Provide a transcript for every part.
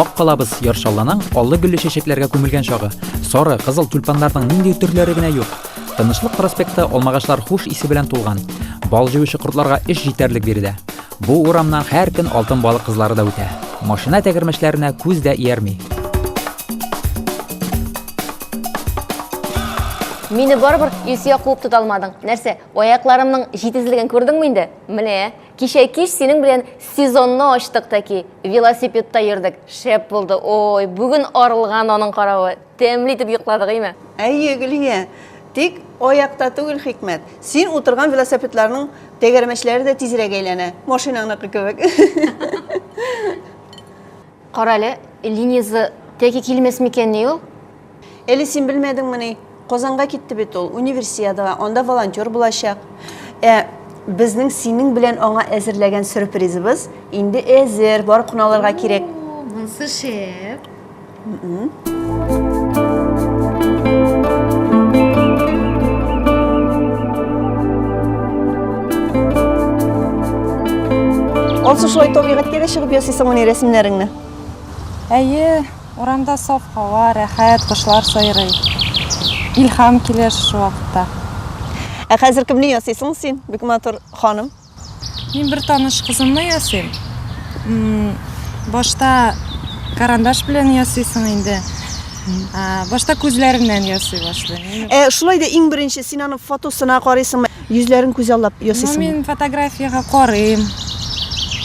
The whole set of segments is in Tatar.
Ак калабыз яр шалланың аллы гөлле чәчәкләргә күмелгән чагы. Сары, кызыл тюльпаннарның нинди төрләре генә юк. Тынычлык проспекты алмагачлар хуш исе белән тулган. Бал җыючы кортларга эш җитәрлек биредә. Бу урамнан һәр көн алтын балык кызлары да үтә. Машина тәгәрмәчләренә күз дә иярми. Мине барыбер Илсөя куып тота алмадың. Нәрсә, аякларымның җитезлеген күрдеңме инде? Менә. Кичә кич синең белән сезонны ачтык тәки, велосипедта йөрдек, шәп булды, ой, бүген арылган аның каравы, тәмле итеп йокладык, име? Әйе, Гөлия, тик аякта түгел хикмәт, син утырган велосипедларның тәгәрмәчләре дә тизрәк әйләнә, машинаңныкы кебек. Кара әле, Лениза тәки килмәс микәнни ул? Әле син белмәдеңмени? Казанга китте бит ул, универсиадага, анда волонтер булачак. Ә безнең синең белән аңа әзерләгән сюрпризыбыз инде әзер, барып кына алырга кирәк. Монсы шәп. Алсу шулай табигатькә дә чыгып ясыйсың моны рәсемнәреңне. Әйе, Урамда саф һава, рәхәт, кошлар сайрый. Илһам килә шушы вакытта. Ә хәзер кемне ясыйсың син, бик матур ханым? Мин бер таныш кызымны ясыйм. Башта карандаш белән ясыйсың инде. Башта күзләреннән ясый башлыйм. Ә шулай да иң беренче син аның фотосына карыйсыңмы? Йөзләрен күзаллап ясыйсыңмы? Ну, мин фотографиягә карыйм.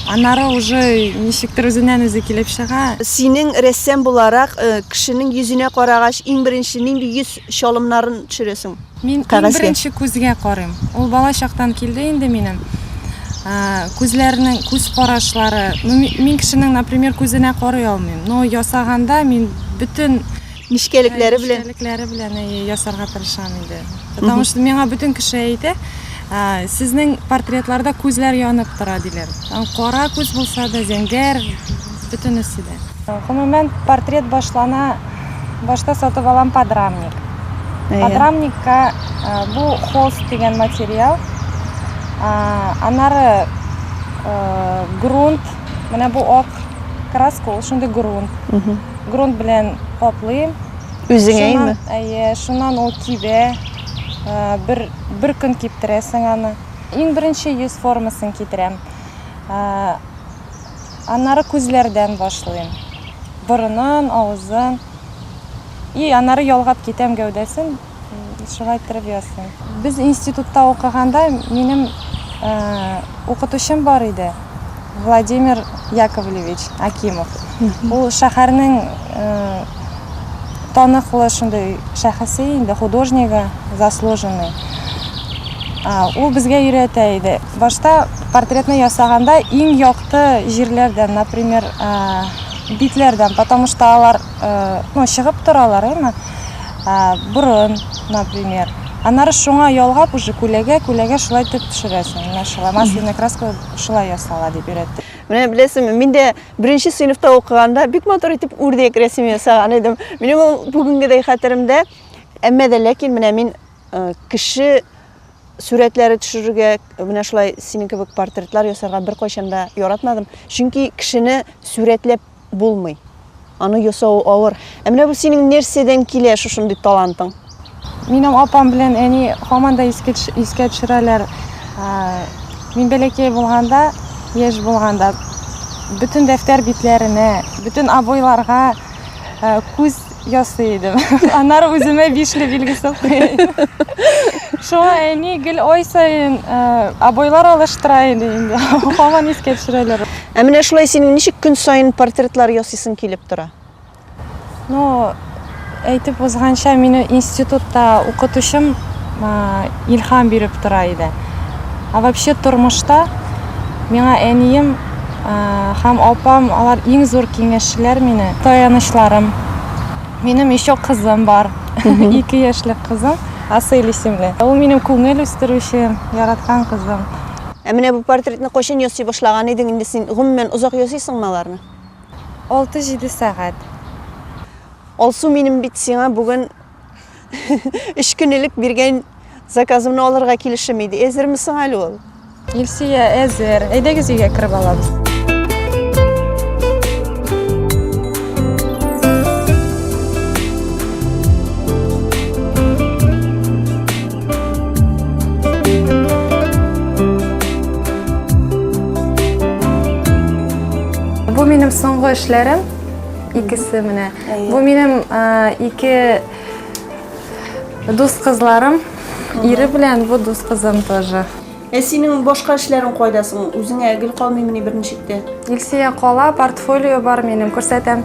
Аннары уже ничектер үзеннән-үзе килеп чыга. Синең рәссам буларак, кешенең йөзенә карагач, иң беренче нинди йөз чалымнарын төшерәсең кәгазьгә? Мин иң беренче күзгә карыйм. Ул бала чактан килде инде минем. Күзләренең күз карашлары. Ну, мин кешенең, например, күзенә карый алмыйм. Но ясаганда мин бөтен Нечкәлекләре белән. Нечкәлекләре белән ясарга тырышам инде. Потому что миңа бөтен кеше әйтә, сезнең портретларда күзләр янып тора диләр. Там кара күз булса да, зәңгәр, бөтенесе дә. Гомумән, портрет башлана, башта сатып алам подрамник. Подрамникка бу холст дигән материал. Аннары грунт. Менә бу ак краска ул шундый грунт. Грунт белән каплыйм. Үзеңә инде? Әйе, шуннан ул кибә. Бер, бер көн киптерәсең аны. Иң беренче йөз формасын китерәм. Аннары күзләрдән башлыйм. Борынын, авызын. И, аннары ялгап китәм гәүдәсен. шулай иттереп ясыйм. Без институтта укыганда минем укытучым бар иде, Владимир Яковлевич Акимов. Ул шәһәрнең таныклы шундый шәхесе инде, художнигы, заслуженный. Ул безгә өйрәтә иде. Башта портретны ясаганда иң якты җирләрдән, например, битләрдән, потому что алар ну чыгып торалар әйме борын например аннары шуңа ялгап уже күләгә күләгә шулай итеп төшерәсең менә шулай масляный краска шулай ясала дип өйрәтте менә беләсеңме мин дә беренче сыйныфта укыганда бик матур итеп үрдәк рәсем ясаган идем минем ул бүгенгедәй хәтеремдә әмма дә ләкин менә мин э, кеше сурәтләре төшерергә менә шулай синең кебек портретлар ясарга беркайчан да яратмадым чөнки кешене сурәтләп Булмый. Аны ясау авыр. Ә менә бу синең нәрсәдән килә шушындый талантың? Минем апам белән әни һаман да искә төш- искә төшерәләр. Ә, Мин бәләкәй булганда, яшь булганда, бөтен дәфтәр битләренә, бөтен обойларга э, күз ясый идем. Аннары үземә бишле билгесе куя идем. Шуңа әни гел ай саен э, обойлар алыштыра иде инде. Һаман искә төшерәләр. Ә менә шулай синең ничек көн саен портретлар ясыйсың килеп тора? Ну, әйтеп узганча, мине институтта укытучым э, илһам биреп тора иде. А вообще тормышта миңа әнием һәм апам, алар иң зур киңәшчеләр мине, таянычларым. Минем еще кызым бар, ике яшьлек кызым, Асель исемле. Ул минем күңел үстерүче, яраткан кызым. Ә менә бу портретны кайчан ясый башлаган идең? Инде син гомумән озак ясыйсыңмы аларны? Алты-җиде сәгать. Алсу, минем бит сиңа бүген Өч көн элек биргән заказымны алырга килешем иде. Әзерме соң әле ул? Илсия, әзер. Әйдәгез өйгә кереп алабыз. Бу минем соңгы эшләрем. Икесе менә. Бу минем ике дус кызларым. Ире белән бу дус кызым тоже. Ә синең башка эшләрең кайда соң? Үзеңә гел калмыймыни берничек тә? Илсия кала, портфолио бар минем, күрсәтәм.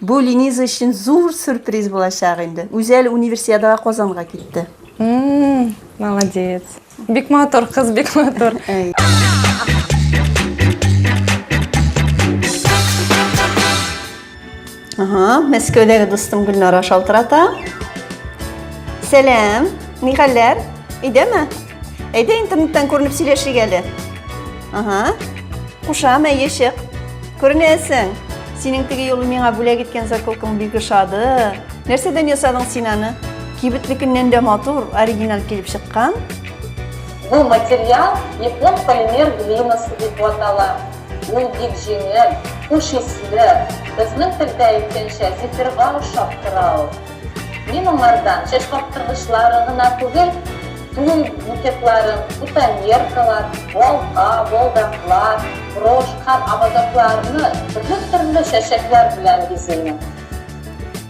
Бу Лениза өчен зур сюрприз булачак инде. Үзәл универсиадага Казанга китте. Молодец. Бик матур кыз, бик матур. Ага, Мәскәүдәге дустым Гөлнара шалтырата. Сәлам, ни хәлләр? Өйдәме? Әйдә интернеттан күренеп сөйләшик әле. Ага. Кушам, әйе чык. Күренәсең. Синең теге юлы миңа бүләк иткән заколкаң бик ошады. Нәрсәдән ясадың син аны? Кибетлекеннән дә матур, оригинал килеп чыккан. Бу материал япон полимер глинасы дип атала. Ул бик җиңел, хуш исле. Безнең телдә әйткәнчә, зефирга ошап тора ул. Мин аңардан чәч каптыргычлары гына түгел, тун букетларын, бутоньеркалар, балта, балдаклар, брошь һәм ободокларны төрле-төрле чәчәкләр белән бизимен.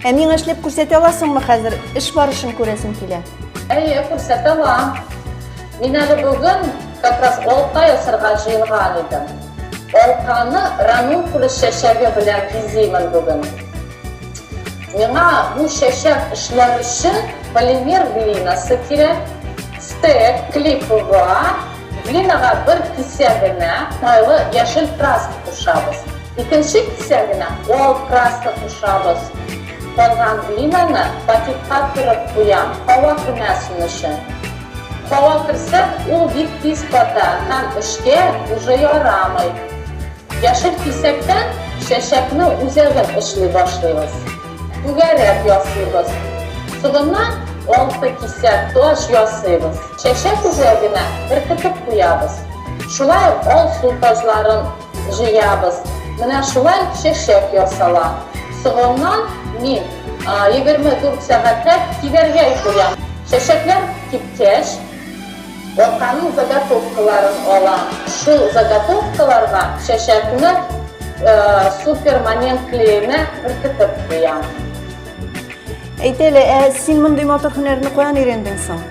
Ә миңа эшләп күрсәтә аласыңмы хәзер? Эш барышын күрәсем килә. Әйе, күрсәтә алам. Мин әле бүген как раз алка ясарга җыенган идем. Алканы ранункулус чәчәге белән бизимен бүген. Миңа бу чәчәк эшләр өчен полимер глинасы кирәк. Стек, клей ПВА, глинага бер кисә генә майлы яшел краска кушабыз. Икенче кисә генә ал краска кушабыз. Калган глинаны пакетка төреп куям, һава кермәсен өчен. Һава керсә, ул бик тиз ката һәм эшкә уже ярамый. Яшел кисәктән чәчәкне үзәген эшли башлыйбыз. Түгәрәк ясыйбыз. Соңыннан алты кисәк таҗ ясыйбыз. Чәчәк үзәгенә беркетеп куябыз. Шулай ук алсу таҗларын җыябыз. Менә шулай чәчәк ясала. Соңыннан мин егерме дүрт сәгатьләп кибәргә куям. Чәчәкләр кипкәч, Арканың заготовкаларын алам. Шул заготовкаларга чәчәкне супер момент клеена беркетеп куям. Әйт әле, ә син мондый матур һөнәрне каян өйрәндең соң?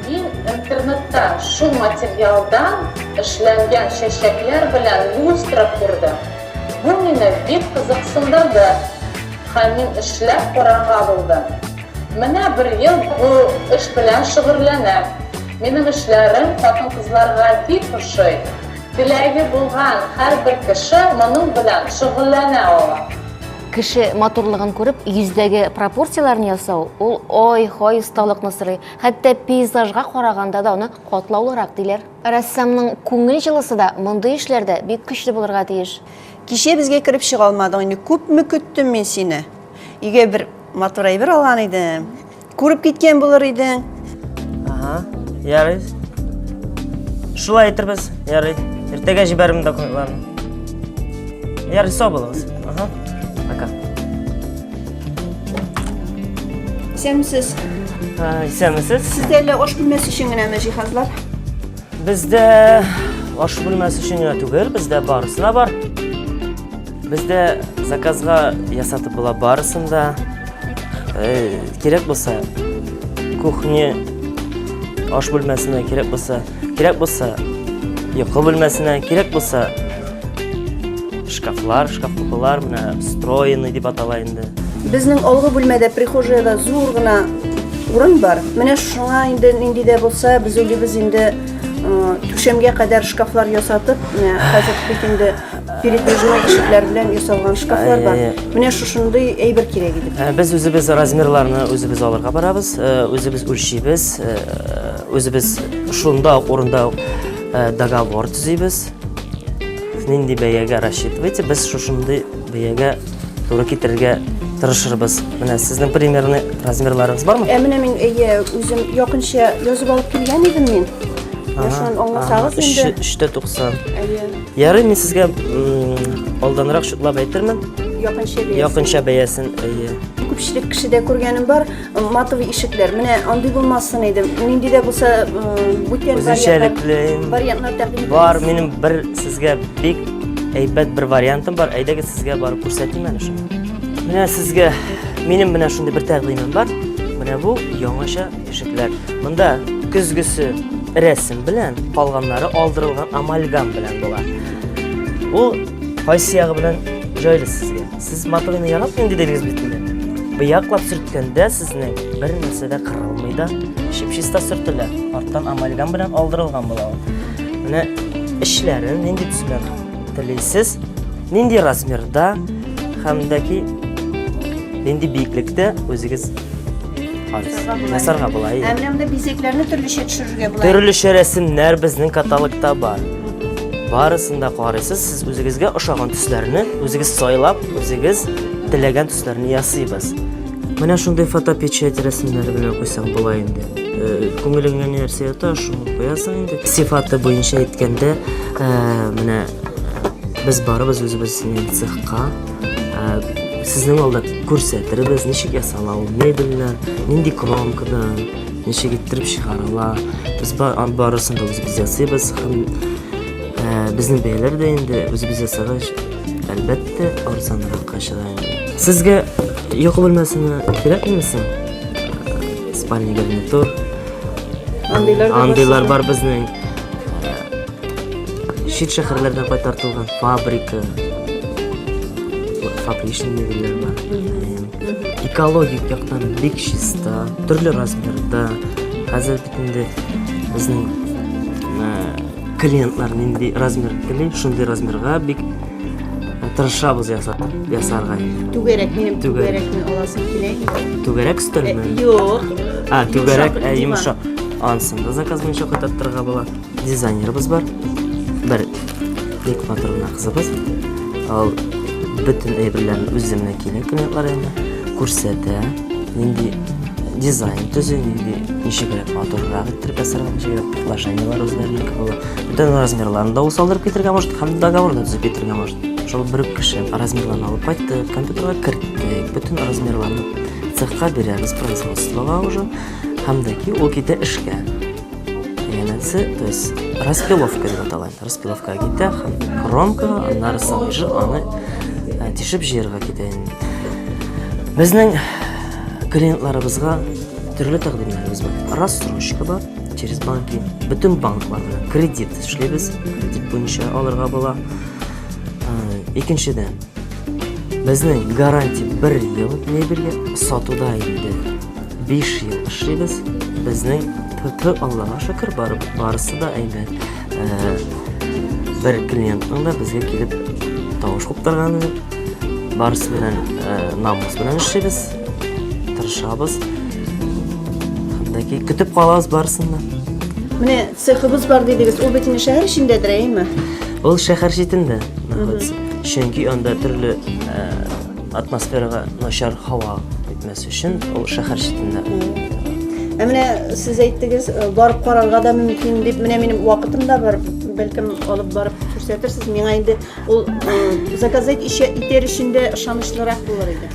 Мин интернетта шул материалдан эшләнгән чәчәкләр белән люстра күрдем. Бу мине бик кызыксындырды һәм мин эшләп карарга булдым. Менә бер ел бу эш белән шөгырьләнәм. Минем эшләрем хатын-кызларга бик ошый. Теләге булган һәрбер кеше моның белән шөгыльләнә ала. Кеше матурлыгын күреп, йөздәге пропорцияләрне ясау, ул ай-һай осталыкны сорый. Хәтта пейзажга караганда да аны катлаулырак, диләр. Рәссамның күңел җылысы да мондый эшләрдә бик көчле булырга тиеш. Кичә безгә кереп чыга алмадың инде, күпме көттем мин сине. Өйгә бер Матур әйбер алган идем. Күреп киткән булыр идең. Ага, ярый. Шулай әйтербез, ярый. Иртәгә җибәрим документларны. Ярый, сау булыгыз. Ага. Пока. Исәнмесез. Ә, Исәнмесез. Сездә әллә аш бүлмәсе өчен генәме җиһазлар? Бездә аш бүлмәсе өчен генә түгел, бездә барысы да бар. Бездә заказга ясатып була барысын да. Э, кирәк булса, кухня аш бүлмәсенә кирәк булса, кирәк булса, йокы бүлмәсенә кирәк булса, шкафлар, шкаф купылар, менә встроенный дип атала инде. Безнең алгы бүлмәдә прихожаяда зур гына урын бар. Менә шуңа инде нинди дә булса, без уйлыйбыз инде түшәмгә кадәр шкафлар ясатып, менә хәзер бит инде Передвижной ишекләр белән ясалган шкафлар бар. Менә шушындый әйбер кирәк иде. Ә, без үзебез размерларны үзебез алырга барабыз, ә, үзебез үлчибез, ә, үзебез шунда ук урында ук договор төзибез. Нинди бәягә рассчитывайте, без шушындый бәягә туры китерергә тырышырбыз. Менә сезнең примерный размерларыгыз бармы? Ә менә мин әйе, үзем якынча язып алып килгән идем мин. Шуны аңласагыз инде. 390. Әйе. Ярый, мин сезгә алданрак шутлап әйтермен. Якынча бәясен. Якынча бәясен, әйе. Күпчелек кешедә күргәнем бар, матовый ишекләр. Менә андый булмасын иде. Нинди дә булса, бүтән вариантлар тәкъдим итәм. Бар, минем бер сезгә бик әйбәт бер вариантым бар. Әйдәгез сезгә барып күрсәтим әле шуны. Менә сезгә минем менә шундый бер тәкъдимем бар. Менә бу яңача Тишекләр. Монда көзгесе рәсем белән, калганнары алдырылган амальгам белән була. Ул кайсы ягы белән җайлы сезгә? Сез моторны яратмыйм дидегез бит инде. Быяклап сөрткәндә сезнең бер нәрсә дә кырылмый да, чип-чиста сөртелә. Арттан амальгам белән алдырылган була ул. Менә эшләрен нинди төсмә телисез, нинди размерда һәм дә ки нинди биеклектә үзегез Ясарга була. Ә менә монда бизәкләрне төрлечә төшерергә була. Төрлечә рәсемнәр безнең каталогта бар. Барысын да карыйсыз, сез үзегезгә ошаган төсләрне үзегез сайлап, үзегез теләгән төсләрне ясыйбыз. Менә шундый фотопечать рәсемнәре белән куйсаң була инде. Э, күңелеңә ни нәрсә ята, шуны куясың инде. Сифаты буенча әйткәндә, э, менә без барыбыз үзебезнең цехка Сезнең алда күрсәтербез, ничек ясала ул мебельләр, нинди кромкада, ничек иттереп чыгарыла. Без барысын да үзебез ясыйбыз һәм безнең бәяләр дә инде үзебез ясагач, әлбәттә, арзанракка чыга инде. Сезгә йокы бүлмәсенә кирәкмени соң? Спальня гарнитур. Андыйлар бар безнең. Чит шәһәрләрдән кайтартылган фабрика, фабричный мебельләр бар. Экологик яктан бик чиста, төрле размерда. Хәзер бит инде безнең клиентлар нинди размер тели, шундый размерга бик тырышабыз ясатып ясарга. Түгәрәк минем түгәрәкне аласым килә. Түгәрәк стөлме? Юк. А, түгәрәк, ә йомшак. Ансын да заказ буенча кайтарттырырга була. Дизайнерыбыз бар. Бер ник фатурына кызыбыз. Ал бүтін әйберләрен үземне килен кыйнатлар инде күрсәтә нинди дизайн төзү нинди ничегрәк матуррак иттереп ясарга ничегрәк предложениелар үзләренеке була бүтән размерларын да ул салдырып китергә может һәм договор да төзеп китергә может шул бер үк кеше размерларын алып кайтты компьютерга керттек бүтән размерларны цехка бирәбез производствога уже һәм дә ки ул китә эшкә Янәсе, то есть распиловка дип атала. Распиловка китә һәм кромка, аннары сабыжы аны э, тишеп җыярга китә. Безнең клиентларыбызга төрле тәкъдимнәребез бар. Рассрочка бар, через банки. Бөтен банклар белән кредит эшлибез. Кредит буенча алырга була. Э, икенчедән, Безнең гарантия бер ел мебельгә сатуда инде. 5 ел эшлибез. Безнең ТТ Аллага шөкер бар, барысы да әйбәт. Э, бер клиентның да безгә килеп тавыш куптырганы юк. Барысы белән э, намус белән эшлибез. Тырышабыз. Хәтта көтеп калабыз барысын да. Менә Цехыбыз бар дидегез, ул бит инде шәһәр эчендәдер, әйеме? Ул шәһәр читендә находится. Чөнки анда төрле ә, атмосферага начар һава итмәс өчен ул шәһәр читендә. Ә менә сез әйттегез, э, барып карарга да мөмкин дип, менә минем вакытым да бар, бәлкем алып барып күрсәтерсез. Миңа инде ул э, заказать ишә- итәр өчен дә ышанычлырак булыр иде.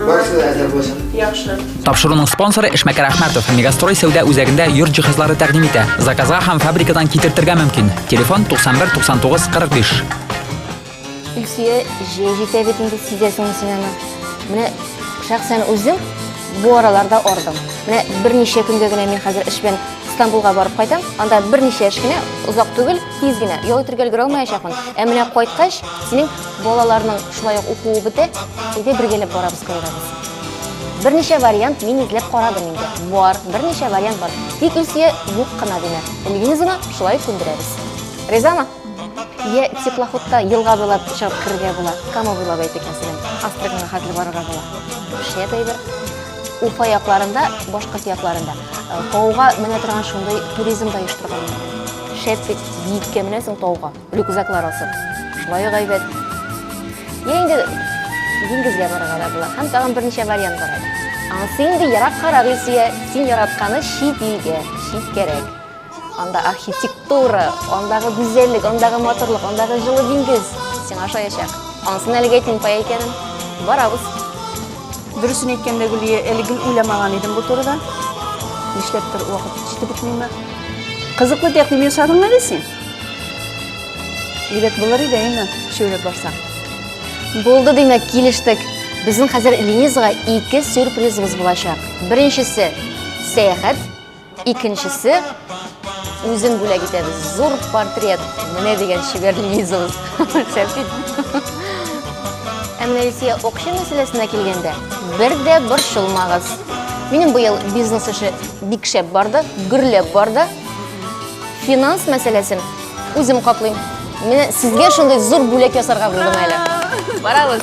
Барысы да әзер булсын. Яхшы. Тапшыруның спонсоры Эшмәкәр Әхмәтов. Мегастрой сәүдә үзәгендә йорт җиһазлары тәкъдим итә. Заказга һәм фабрикадан китертергә мөмкин. Телефон 91 99 45. Илсөя җәй җитә бит инде сизәсеңме син аны? Менә шәхсән үзем бу араларда ардым. Менә берничә көнгә генә мин хәзер эш белән Стамбулга барып кайтам. Анда берничә эш кенә озак түгел, тиз генә ял итергә өлгерә алмаячакмын. Ә менә кайткач, синең Балаларның шулай ук укуы бетә, өйгә бергәләп барабыз кайрабыз. Берничә вариант мин эзләп карадым инде. Бар, берничә вариант бар. Тик Илсөя юк кына димә. Лизаны шулай күндерәбез. Ризамы? Я теплоходта елга буйлап чыгып керергә була, Кама буйлап әйтик, мәсәлән, Астраханьга хәтле барырга була. Шәп әйбер. Уфа якларында, башкорт якларында э, тауга менә торган шундый туризм да оештырганнар. Шәп бит, биеккә менәсең тауга. Рюкзаклар асып, шулай ук әйбәт. Я инде диңгезгә барырга да була. Һәм тагын берничә вариант бар әле. Ансы инде ераккарак, Илсөя, син яратканы чит илгә, читкәрәк. Анда архитектура, андагы гүзәллек, андагы матурлык, андагы җылы диңгез сиңа ошаячак. Ансын әлегә әйтмим, икәнен. Барабыз. Дөресен әйткәндә, Гөлия, әле гел уйламаган идем бу турыда. Нишләптер вакыт җитеп бетмиме? Кызыклы тәкъдим ясадың әле син. Әйбәт булыр иде әйме, шөйләп барсаң. Булды димәк, килештек. Безнең хәзер Лизага ике сюрпризыбыз булачак. Беренчесе сәяхәт, икенчесе үзен бүләк итәбез. Зур портрет. Менә дигән чибәр Лизабыз. Сәфит. Ә менә Илсия акча мәсьәләсенә килгәндә, бер дә борчылмагыз. Минем быел бизнес эше бик шәп барды, гөрләп барды. Финанс мәсьәләсен үзем каплыйм. Менә сезгә шундый зур бүләк ясарга булдым әле. Барабыз.